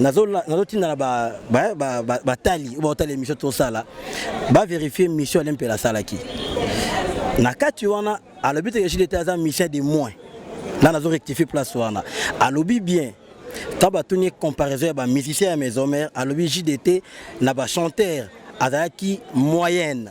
nazotinda na batali oyo baotala émission tosala baverifie mission ale mpela asalaki na kati wana alobi te ejili ete aza mission de moins nga nazo rectifie place wana alobi bien ntango batuni comparaison ya bamusicien ya maison mare alobi jdt na bachanteur azalaki moyenne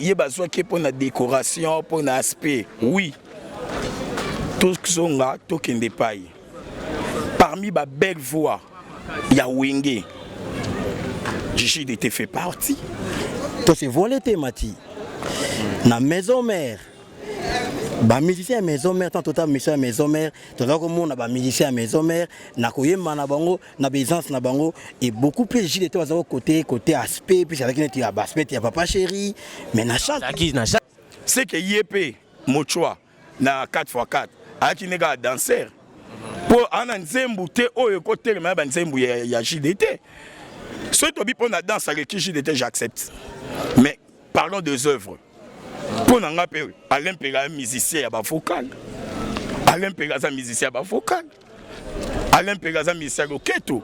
ye bazwaki ye mpo na decoration mpo na aspect oui tozonga tokende epai parmi ba belle voix ya wenge jide te fait partie tose voile te mati na maison mère ba musiciens ya maison mère tant tota mission ya maison mère toza komona ba musiciens ya maison mère na koyemba na bango na baisance na bango et beaucoup plus jile te baza kokote kote aspect puis azalaki neti ya baspect ya papa chéri mais na chante c'est que ye mpe mochwa na 4x4 ayaki nde kaka danser mpo ana nzembu te oyo ekotelema ya banzembu ya, ya jide te soki tobi mpo na danse aleki jide te j'accepte mais parlons des œuvres mpo na ngai mpe alain mpela musicien ya bavokale alain mpela aza musicien ya bavokale Alain Pega aza musicien loketo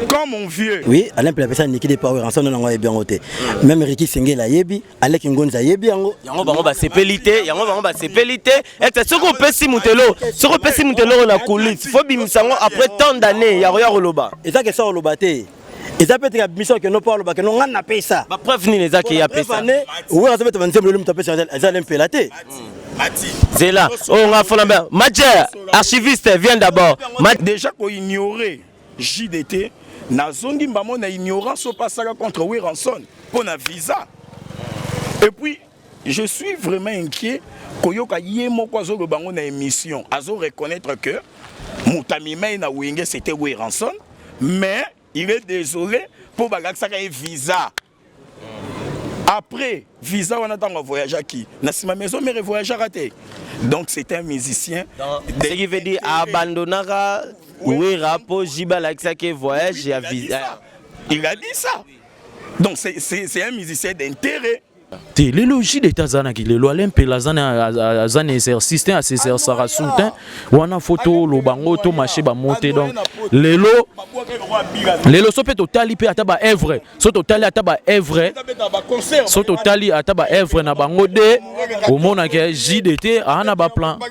comme mon vieux oui alain pela pesa niki de power ensemble nango ayebi yango te même riki sengela ayebi alek ngonzi ayebi yango yango bango basepeli te yango bango basepeli te ete soki opesi moto eloko soki opesi moto eloko na coulisse fo bimisa yango après tant d'année ya koya koloba eza kesa koloba te eza mpe tika biso akendo mpo aloba kendo ngai napesa bapreuve nini eza ke apesa oyo aza beta banzembo lelo moto apesa eza le mpela te zela oyo oh, ngai afona mbe matière archiviste vient d'abord déjà koignore jdt nazongi mbamo na ignorance oyo mpe asaka contre wiranson mpo na visa epuis Je suis vraiment inquiet koyoka ye moko azoloba yango na émission azo reconnaître que moto amimai na wenge c'était Weranson mais il est désolé mpo balakisaka ye visa après visa wana ntango avoyageaki na nsima maison mère evoyageaka te donc c'est un musicien ce qui veut dire abandonnaka wera mpo jiba alakisaki voyage ya visa il a dit ça donc c'est un musicien d'intérêt te lelo jile ete azanaki lelo ale mpela aza na exercice te asexercaka su te wana fo toloba ngo to marche bamo te donc lelo lelo so mpe totali mpe ata baevre so totali ata baevre so totali ata baevre na bango de omonaka jide te aa na baplan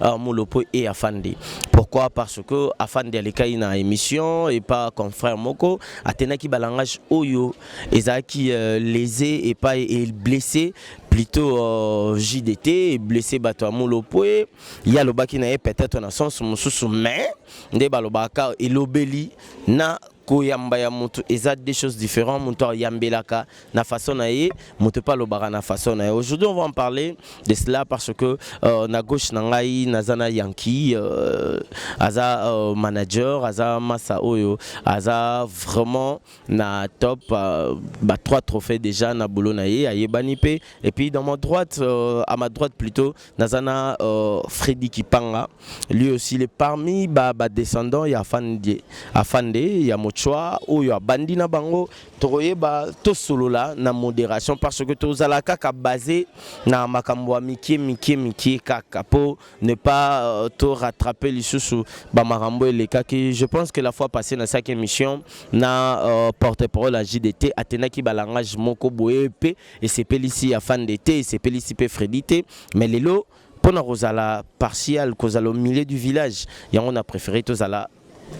Ah, Molopo et Afandi. Pourquoi Parce que Afandi alikai na émission et pas confrère moko atenaki ba langage oyo ezaki euh, lésé et pas et blessé plutôt euh, JDT blessé bato ya Molopo et ya lobaki na ye peut-être na sens mususu mais nde balobaka elobeli na Koyamba ya mutu eza deux choses différentes. Mutu ayambelaka na façon na ye, mutu pa lobaka na façon na ye. Aujourd'hui, on va en parler de cela parce que euh, na gauche na ngai nazana Yankee euh, aza euh, manager, aza massa oyo, aza vraiment na top euh, ba trois trophées déjà na boulot na ye, ayebani pe. Et puis dans ma droite, euh, à ma droite plutôt, Nazana euh, Freddy Kipanga, lui aussi il est parmi ba, ba descendants ya Afande, Afande ya Mochwa oyo abandi na bango tokoyeba tosolola na modération parce que tozala kaka basé na makambo ya mikie mikie mikie kaka po ne pas euh, to rattraper lisusu ba makambo elekaki je pense que la fois passée na saki émission na euh, porte-parole ya JDT atenaki ba langage moko boye pe Esepelisi Afande te, esepelisi pe Freddy te, mais lelo pona kozala partial, kozala au milieu du village, yango na prefere tozala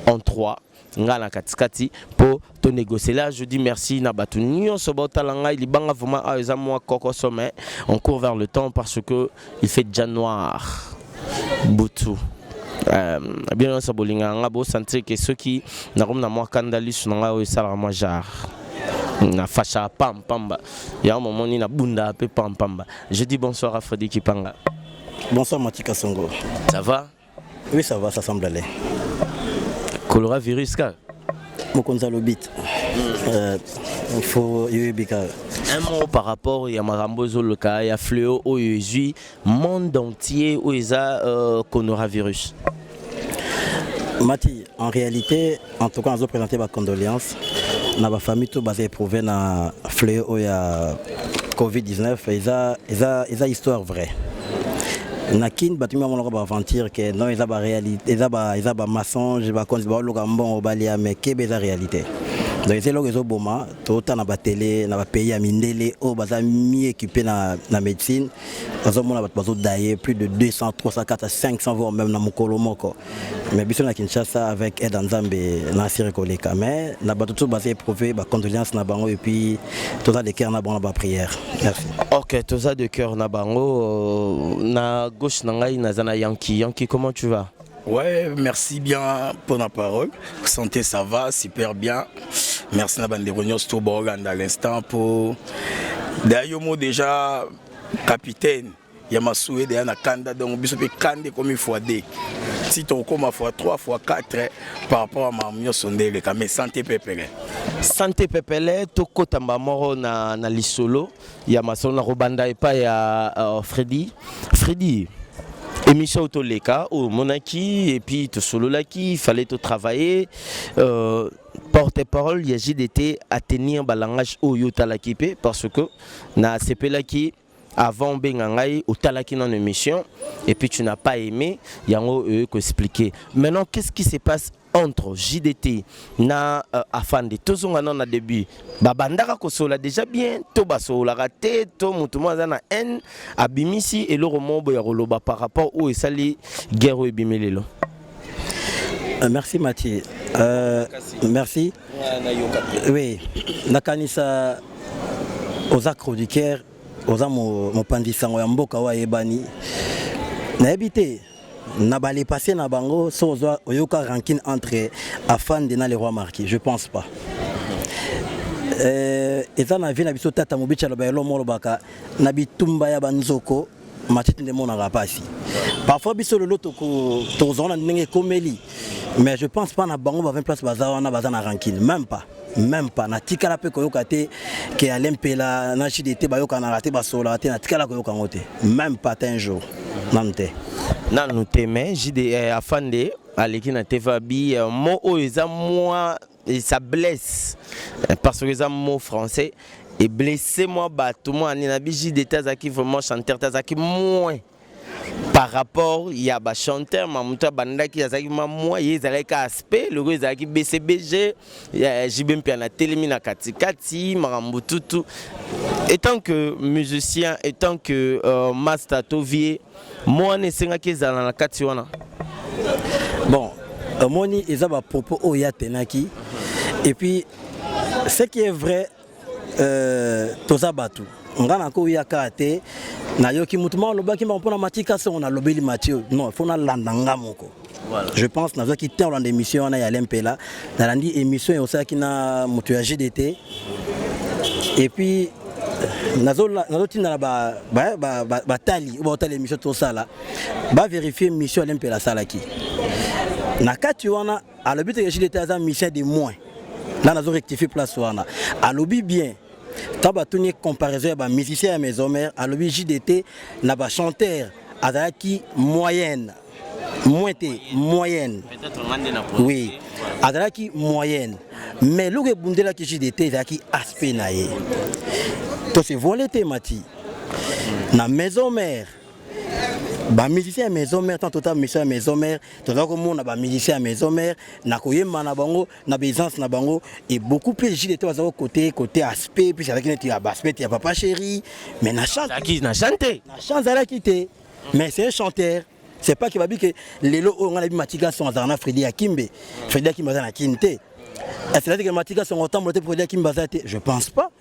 en trois nga na katikati po to négocier là je dis merci na batu nyonso baotala ngai libanga vraiment awa eza mwa kokoso mais on court vers le temps parce que il fait déjà noir butu Euh, bino nyonso bolingaka nga bosentir ke soki nakomi na mwa kanda lisu na ngai oyo esalaka mwa genre na fashaka pampamba yango momoni na bundaka mpe pampamba je dis bonsoir à fredi kipanga bonsoir matika songo ça va oui ça va ça semble aller kolora virus kaka mokonzi alobi hmm. euh, fo yoyebi kaka un mot par rapport ya makambo ezoloka ya fleo oyo ezwi monde entier oyo eza euh, coronavirus mati en réalité en tout cas nazo présenter ba condoléances na ba famille tout baza éprouvé na fléau oyo ya covid-19 eza eza eza histoire vraie na kin bato mimi bamonaka baaventure ke non eza baréalité eza ba eza bamassonge bakonzi baoluka mbongo balia me kebe eza réalité donc eza eloko ezoboma tota na batele na bapays ya mindele oyo baza mi équipe na, na médecine nazomona bato bazodaye plus de 200 300 400 500 voire même na mokolo moko mais biso na kinshasa avec aide ya nzambe na asiri koleka mais na bato tout baza éprouve bacondoléance na bango epuis toza de cœur na bango na baprière merci ok toza de cœur na bango euh, na gauche na ngai naza na yanki yanki comment tu vas Ouais, merci bien pour la parole. Santé, ça va, super bien. Merci na bande réunion tout Borgand à l'instant pour d'ailleurs moi déjà capitaine ya masue deya na kanda donc biso mpe kanda ekomi fois 2 si tokokoma fois 3 fois 4 par rapport ya mamu nyonso nde eleka mais sante pepele sante pepele tokotamba moko na, na lisolo ya masolo na kobanda epai ya uh, Freddy Freddy émission oyo toleka oyo omonaki epuis tosololaki fallait totravaille euh, porte parole ya jdt atenir balangage oyo otalaki mpe parce que nasepelaki avant obenga ngai otalaki nano émission et puis tu n'as pas aimé yango oyo koexpliquer maintenant qu'est ce qui se passe entre JDT na euh, Afande tozonga nano na début babandaka kosola déjà bien to basololaka te to moto moko aza na haine abimisi eloko moko boya koloba par rapport oyo esali guerre oyo ebimi lelo euh, merci Mathieu euh, merci oui nakanisa oza chroniqueur oza mopanzi sango ya mboka oyo ayebani nayebi te na ba le passé na bango so ozwa oyoka rancune entre afande na le roi marquis je pense pas euh, eza na vie na biso tata mobici aloba elo molobaka na bitumba ya banzoko matiti nde emonaka mpasi parfois biso lelo tokozala na ndenge ekomeli mais je pense pas na bango ba 20 place baza wana baza na rancune même pas meme pas natikala mpe koyoka te ke ale mpela na jdete bayokanaka te basololaka te natikala koyoka yango te meme pas te un jour nanu te nanu te mais jde eh, afande aleki na tva bi euh, mo oyo eza mwa ça blesse euh, parce que eza mot français eblesse mwa bato mwa nini na bi jde te azalaki vraiment chanteur te azalaki moins par rapport ya ba chanteur ma moto abandaki azalaki ma mwa ye ezalaki ka aspect loko ezalaki bcbg ya jb mpe na telemi na katikati makambo tutu etant que musicien etant que uh, master to vie mwa wana esengaki ezala na kati wana bon omoni eza bapropos oyo ya tenaki et puis ce qui est vrai Euh, toza bato nga nakoyaka te nayoki motu moko alobaki mbango mpo na mati kasi yango nalobeli mati oyo non fo nalanda nga moko Voilà. Je pense que nazwaki temps olanda émission wana ya lempela nalandi émission ya osalaki na moto ya gdt et puis nazotinda na batali ba, ba, ba, oyo baotala émission tosala baverifie mission ya lempela asalaki na kati wana alobi te jile te aza musicien de moins na nazo rectifier place wana alobi bien ntango batuni ye comparaison ya bamusicien ya maison mare alobi jdt na bachanteur azalaki moyenne moins te moyenne oui azalaki moyenne mais eloko ebundelaki jdt ezalaki aspect na ye tose voile te mati na maison mare ba musiciens ya maison mère tant total mission ya maison mère toza komona ba musiciens ya maison mère na koyemba na bango na baisance na bango et beaucoup plus jile te bazalaki côté côté aspect puis avec neti ya aspect ya papa chéri mais na chante na chante na chante zalaki te mais c'est un chanteur c'est pas que babi que lelo oyo ngana bi matika son azana na Freddy Akimbe Freddy Akimbe azana kin te est-ce que matika son otambola te Freddy Akimbe azate je pense pas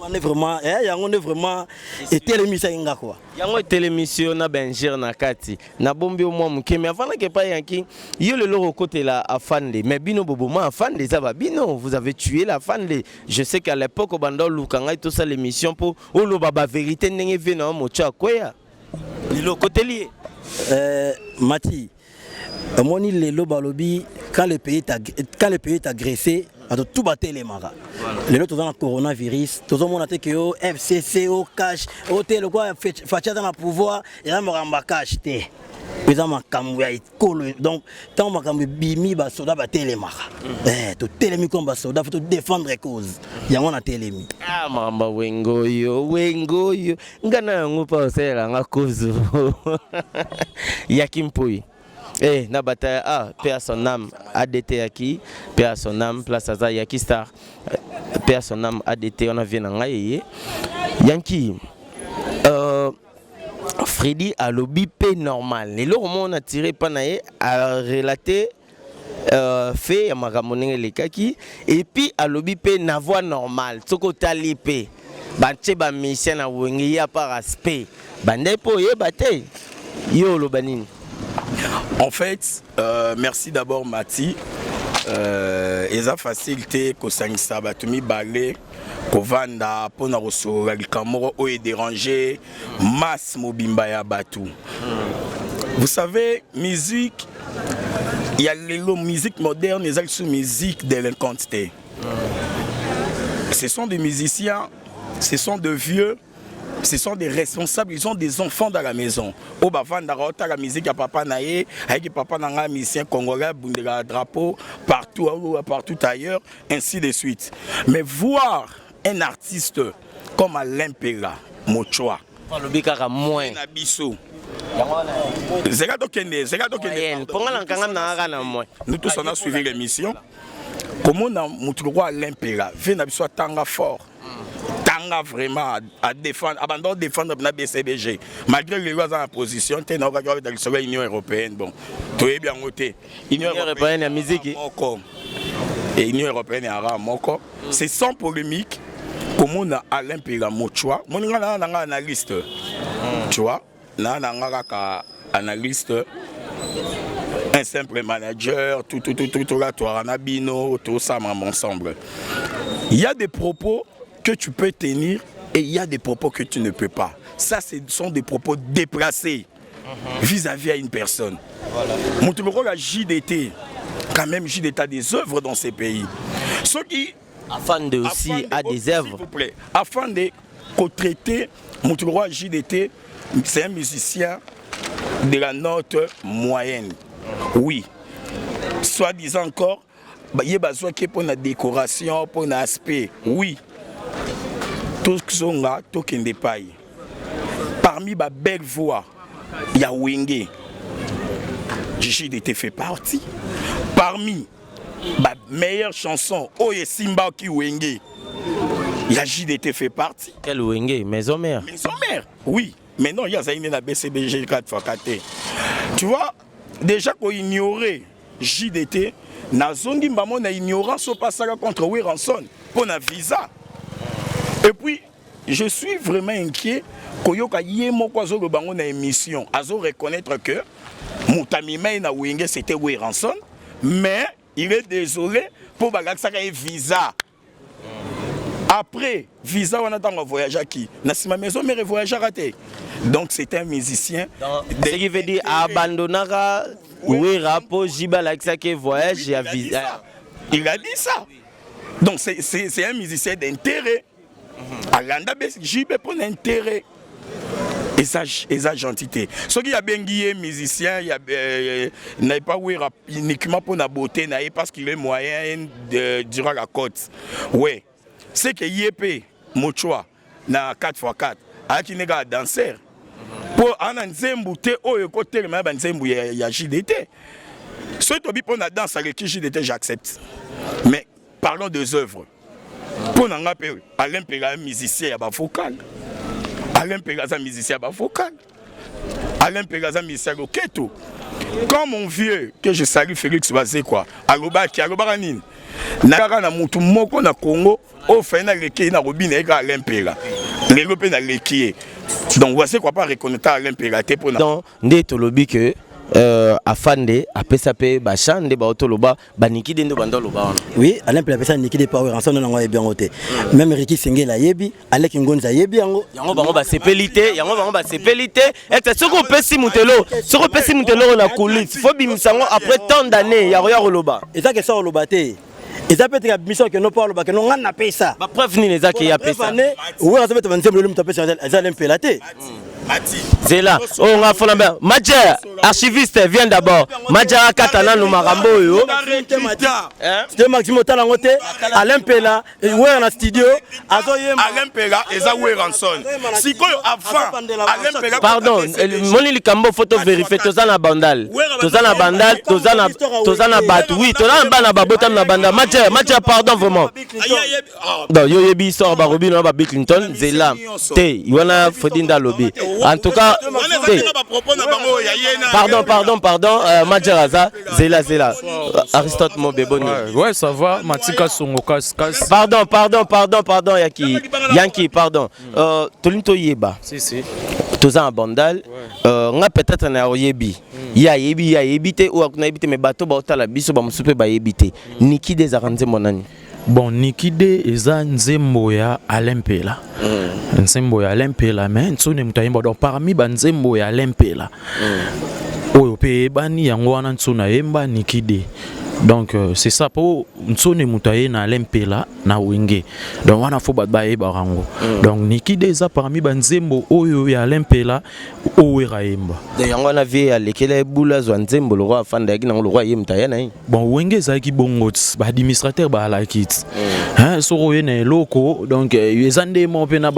wana vraiment eh, yango nde vraiment etelemisaki nga kua yango etelemisi yo na bengere na kati nabombi yo mwa moke mai afandaki epai yanki yo lelo okokotela afande mai bino boboma afande eza babino vous avez tué la afande je sais qu'à l'époque obanda oluka ngai tosala émission mpo oloba baverité ndenge vie na yo motio akweya lelo okoteli ye eh, mati omoni lelo balobi quand le pays est, ag- quand le pays est agressé bato tout batelemaka lelo toza na coronavirus tozomona te ke o fcc o cash o te lokola Fetch- faci aza na pouvoir eza makambo ya cash te eza makambo ya ekolo donc ntango makambo ebimi basoda batelemaka Eh, totelemi koma basoda fo todefendre cause yango natelemi Ah, mama wengoyo wengoyo nga na yango mpo osalela nga kozo ya kimpoi Eh, na bataille A, paix à son âme, ADT Yaki, paix à son âme, place à Yaki Star, paix à son âme, ADT, on a vu Nangaye. Yankee, euh, Freddy alobi pe normal. Et là, on a tiré panaye, a relaté Euh, fait ya makambo ndenge elekaki epuis alobi mpe na voix normale soki otali mpe batie bamusicien na wenge ye apa respect bandai mpo oyeba te ye oloba nini en fait euh, merci d'abord mati euh, eza facile te kosangisa bato mibale kovanda mpo na kosolola likambo moko oyo ederange masse mobimba ya bato vous savez musique ya lelo musique moderne eza lisusu musique délinquante te ce sont des musiciens ce sont de vieux ce sont des responsables ils ont des enfants dans la maison oyo bavandaka otala musique ya papa na ye ayeki papa na ngai musicien congolais abundelaka drapeau partout aoa partout ailleurs ainsi de suite mais voir Un artiste comme Alain Pela Mochoa. Alobi kaka moins. Na biso. Zeka tokende, zeka tokende. Ponga na kanga na kaka na moins. Nous tous on a suivi l'émission. komona motu lokola alain pela vie na biso atanga fort atanga vraiment adefendre abanda odefendre na bcbg malgré lelo aza na position te naokaki wabeta lisolo ya union européenne bon toyebi yango te Union européenne ya musique moko et Union européenne ya rare moko c'est sans polémique komona Alain Pela Mochwa moni nga na nga analyste tu vois na na nga kaka analyste un simple manager tout tout tout tout tout là toi na bino tout ça ensemble il y a des propos que tu peux tenir et il y a des propos que tu ne peux pas ça ce sont des propos déplacés vis-à-vis à une personne moto moko ya JDT quand même JDT a des œuvres dans ces pays soki afande aussi a des œuvres afande kotraite moto moko ya JDT c'est un musicien de la note moyenne oui soi-disant encore ye bazwaki ye mpo na decoration mpo na aspect oui tozonga tokende epai parmi ba belle voix ya wenge jide te fait partie parmi ba meilleure chanson oyo esimbaki wenge ya jide te fait partie quel wenge maison mère maison mère oui mais non ye azali nde na bcbg 4 fois 4 te tu vois Deja ko ignorer JDT nazongi mbamo na ignorance oyo pasaka contre Weranson mpo na visa et puis je suis vraiment inquiet koyoka ye moko azoloba yango na émission azo reconnaître que moto amema ye na wenge c'était Weranson mais il est désolé mpo balakisaka ye visa après visa wana ntango avoyageaki na nsima maison mare evoyageaka te donc c'est un musicien ce qui veut dire abandonnaka wera mpo jiba alakisaki voyage ya visa il a dit ça donc c'est un musicien d'intérêt alanda jb mpo na intérêt eza eza gentil te soki abengi ye musicien ya euh, na epa wera uniquement mpo na beauté na ye parce qu'il est moyen de durant la côte ouais c'est que ye mpe mochoa na 4x4 ayaki nde kaka danser mpo ana nzembu te oyo ekotelema ya banzembu ya, ya jdt soki tobi mpo na danse aleki jdt j'accepte mais Parlons des œuvres. Mpo na nga mpe Alain Mpela musicien ya ba vocal. Alain Mpela aza musicien ya ba vocal. Alain Mpela aza musicien ya loketo. Quand mon vieux que je salue Félix Bazekwa alobaki alobaka nini? Na kaka na mutu moko na Congo oyo fai na leki ye na kobina ye kaka Alain Mpela. Lelo mpe na leki ye. Donc Bazekwa mpe areconnaitre Alain Mpela te mpo na. Donc nde tolobi que euh, afande apesa mpe bachant nde baotoloba banikide nde banda oloba wana oui alain mpela apesa nikide power ensemble nango ayebi yango te meme riki sengela ayebi alek ngonzi ayebi yango yango bango basepeli te yango bango basepeli te ete soki opesi moto eloko soki opesi moto eloko na coulisse fo bimisa yango après tant d'année ya koya koloba eza kesa koloba te eza mpe tika biso akende mpo alobaka no ngai napesa bapreuve nini eza ke ye apesa wana azobeta banzembo lelo moto apesa eza alain mpela te mm. zela oyo nga fona mbe majer archiviste vient d'abord majer akata nanu makambo oyo te maximo otala yango te alain mpela wera na studio azoyemba alain mpela eza weranson sikoyo avant alain mpela pardon moni likambo fo toverifie toza na bandal toza na bandal toza na bato wi toza na bana babotami na bandal majer majer pardon vraiment Ah, donc yo oyebi histoire barobino na babiclington nzela te wana fredi nde alobi en tout cas te pardon pardon pardon euh, majer aza zela zela aristote mobe boni ouais ça va matika songo kasi kasi pardon pardon pardon pardon yaki yanki pardon euh, tolingi toyeba si si toza na bandal euh, nga peut-être na oyebi hmm. ye ayebi ye ayebi te oyo akuna yebi te me bato baotala biso bamosusu mpe bayebi te hmm. niki de ezalaka nzembo nani Bon Niki de eza nzembo ya Alain Mpela. Mm. Nzembo ya Alain Mpela mais Nsone moto ayemba donc parmi ba nzembo ya Alain Mpela. Mm. Oyo pe eyebani yango wana Nsone ayemba Niki de. Donc euh, c'est ça po Nsone moto aye na Alain Mpela na Wenge. Donc wana faut bato bayebaka yango. Mm. Donc Niki de eza parmi ba nzembo oyo ya Alain Mpela o werra ayemba donc yango wana vie alekela ye bula azwa nzembo lokola afanda yaki nango lokola ye moto aya na ye bon wenge ezalaki bongo ti baadministrateur baalaki ti mm. hein, soki oye na eloko donc euh, eza nde moko mpe na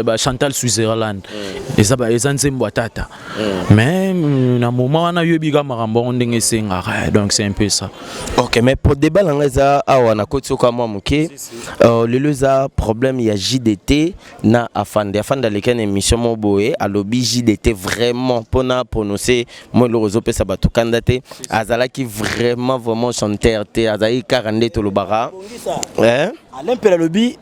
bachantal switzerland mm. eza, eza nzembo ya tata mm. mais mm, na moment wana yoyebi ka makambo yango ndenge esengaka donc c'est un peu ça ok mais po debat na ngai eza awa na koti soka mwa moke euh, lelo eza problème ya jdt na afande afande aleki na émission moko boye alobi jdt vraiment mpona prononce mwa eloko ezopesa bato kanda te azalaki vraiment vraiment chanteur te azalaki kaka nde tolobaka eh? alain mpela alobi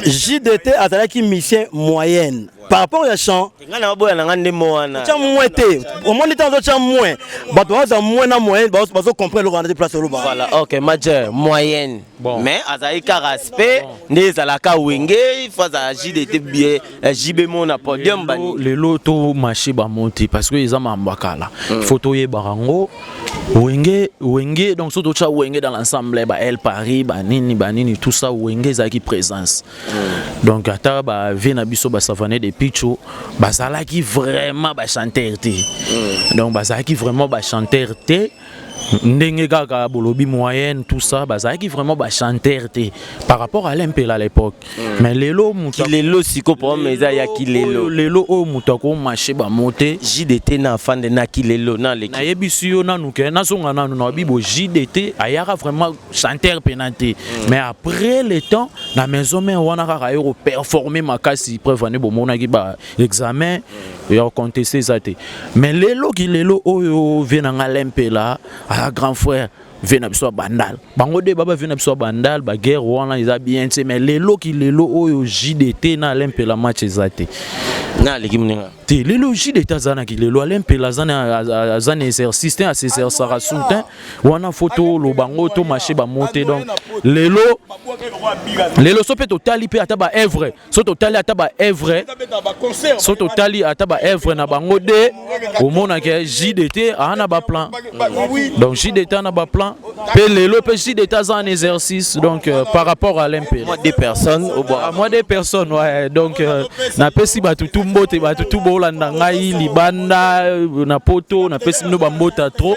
jdt azalaki mission moyenne par rapport ya chant nga na baboya na nga nde mo wana tya mwe te omoni ntango ozotya mwe bato baoza mwe na moyen bazo comprendre eloko wana te place oloba voilà ok majeur moyenne bon. mais azali ka respect nde ezalaka wenge ifo azala jdt bie eh, jb mo na podium bani lelo to marché bango te parce que eza mambo ya kala hmm. fo toyebaka yango wenge wenge donc so totya wenge dans l'ensemble ba el paris banini banini tout ça wenge ezalaki présence Mm. Donc ata ba vie na biso ba savane de Pichu bazalaki vraiment ba chanteur te. Mm. Donc bazalaki vraiment ba chanteur te. ndenge kaka bolobi moyenne tout ça bazalaki vraiment bachanteur te par rapport à l'impela à l'époque mm. mais lelo kilelo siko problème eza ya kilelo lelo oyo moto akomashe bango te jdt na afande na kilelo nayebisi yo nanu ke nazonga nanu na bibo jdt ayaka vraiment chanteur pena te mm. mais après le temps na maison mère wana kaka yo ko performer makasi preuve ane bomonaki ba examen mm. ya contester eza te mais lelo ki lelo oyo vie na nga lempela a grand frère vie na biso ya bandal bango de baba vie na biso ya bandal baguerre wana eza bien te mais lelo ki lelo oyo jdt na lempela match eza te na aleki moninga te lelo jdt azanaki lelo alempela aza na exercice te asesersaka soutien wana fo toloba yango to marche bango te donc lelo lelo so mpe totali mpe ata baevre so totali ata baevre so totali ata baevre na bango de omonake jdt aa na baplan donc jdt a na baplan mpe lelo mpe jdt aza en exercice donc euh, par rapport à l'mpe moi des personnes ah, moi des personnes ouais, donc euh, napesi bato tu mbote bato tu bolanda ngai libanda euh, na poto napesi bino bambota trop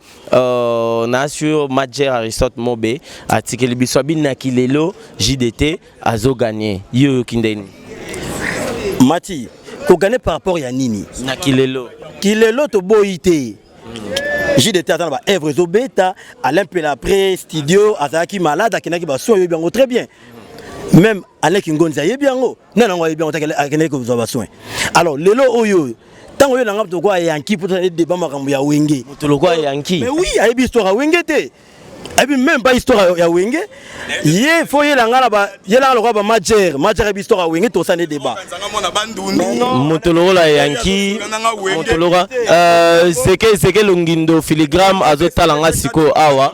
Euh, na sur Major Aristote Mobe atikeli biso abinaki lelo JDT azo gagner yo yo kindeni Mati ko gagner par rapport ya nini na kilelo kilelo to boyi te JDT aza na ba œuvre ezo beta Alain Pela après studio azalaki malade akendaki ba soins yo biango très bien même Alain Kingonza ye biango nani yango ayebi yango te akendaki kozwa basoin alors lelo oyo ntango yo na ngai tokoa yanki mpo tozali deba makambo ya wenge moto lokola yanki mais oui ayebi histoire ya wenge te ayebi même pas histoire ya wenge ye fo yelanga na ba yelanga lokola ba majere majere ayebi histoire ya wenge tosa nde deba moto lokola yanki moto lokola euh, seke seke longindo filigrame azotala nga sikoyo awa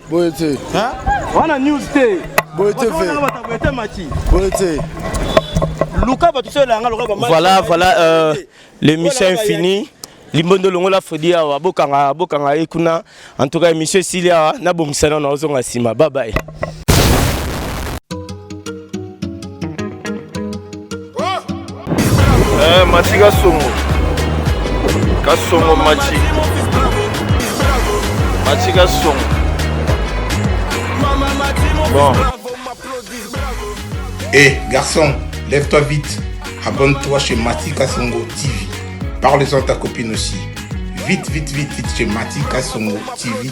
boye te wana news te boye te boye te maki boye te luka bato soyo elanga lokola ba voilà voilà euh, l'émission est finie limbondo longola fredi awa bokanga bokanga ye kuna en tout cas émission esili awa nabongisa nano azonga nsima babaye Eh, mati kasongo kasongo mati mati kasongo bon hey, eh, garçon lève-toi vite abonne-toi chez mati kasongo tv parle-en ta copine aussi vite vite vite vite chez mati kasongo tv